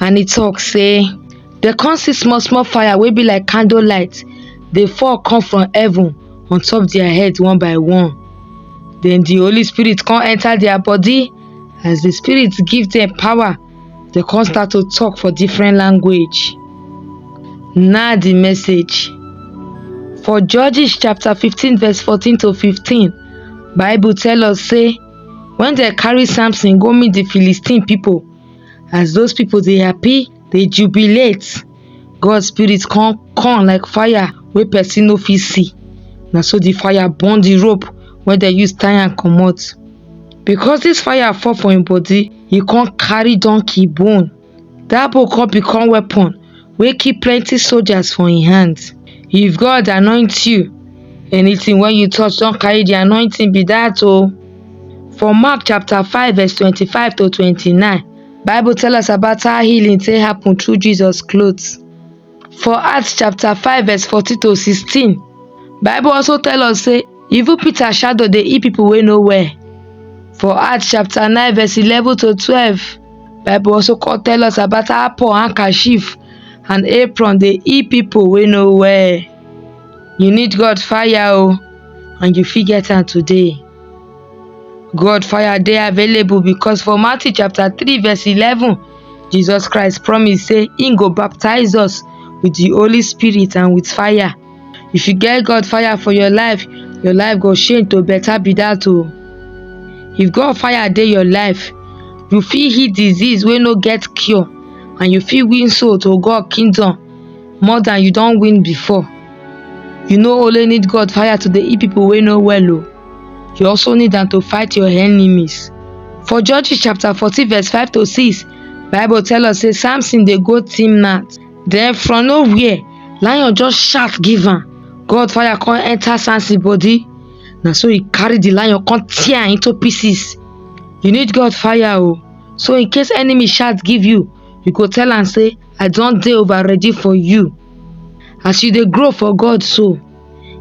and e talk say dem come see small small fire wey be like candle light dey fall come from heaven on top their head one by one then the holy spirit come enter their body as the spirit give them power they come start to talk for different language now the message for judges chapter 15 verse 14 to 15 bible tell us say when they carry samson go meet the philistine people as those people dey happy dey jubilate god spirit come come like fire wey person no fit see na so the fire burn the rope wey dem use tie am comot because this fire fall for him body he come carry donkey bone that bone come become weapon wey kill plenti soldiers for im hands if god anoint you anytin wey you touch don carry di anointing be dat o for mark chapter five verse twenty five to twenty nine bible tell us about how healing take happen through jesus clothes for acts chapter five verse fourteen to sixteen bible also tell us say Evil Peter shadow dey eat people wey no well. For Acts chapter 9 verse 11 to 12, Bible also come tell us about how Paul handkerchief and apron dey eat people wey no well. You need God fire o and you fit get am today. God fire dey available because for Matthew chapter 3 verse 11, Jesus Christ promise say im go baptize us with the Holy Spirit and with fire. if you get God fire for your life, your life go change to better be that oh. If God fire dey your life, you fit heal disease wey no get cure and you fit win soul to God kingdom more than you don win before. You no only need God fire to dey heal people wey no well oh, you also need am to fight your enemies. For Judges chapter fourteen verse five to six, Bible tell us say Samson dey go Timnath. den from no where lion just shout give am god fire come enter samson body na so he carry the lion come tear am into pieces you need god fire o so in case enemy shout give you you go tell am say i don dey over ready for you as you dey grow for god so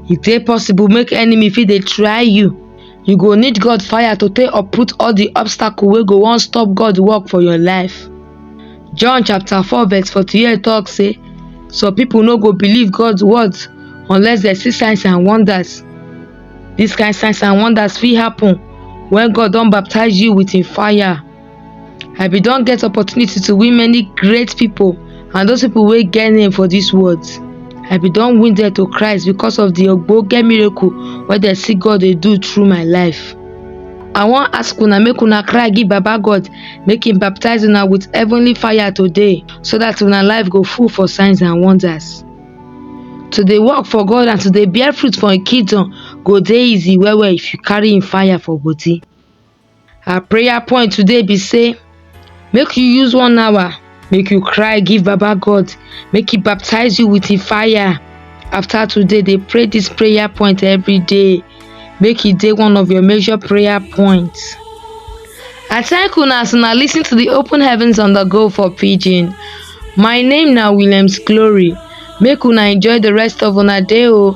e dey possible make enemy fit dey try you you go need god fire to take uproot all the obstacle wey go wan stop god work for your life john chapter 4 verse 48 talk say some people no go believe god's words unless they see signs and wonders this kind signs and wonders fit happen when god don baptize you with him fire I bin don get opportunity to win many great pipo and those pipo wey get name for dis world. I bin don win dem to Christ because of di ogbonge miracle wey dem see God dey do through my life. I wan ask una make una cry give Baba God make im baptize una with heavenly fire today so dat una life go full for signs and wonders. To dey work for God and to dey bear fruit for im kingdom go dey easy well well if you carry im fire for body. Our prayer point today be say make you use one hour make you cry give baba god make he baptize you with him fire after today dey pray this prayer point every day make e dey one of your major prayer points i thank una as una lis ten to the open heavens on the go for pidgin my name na williams glory make una enjoy the rest of una day o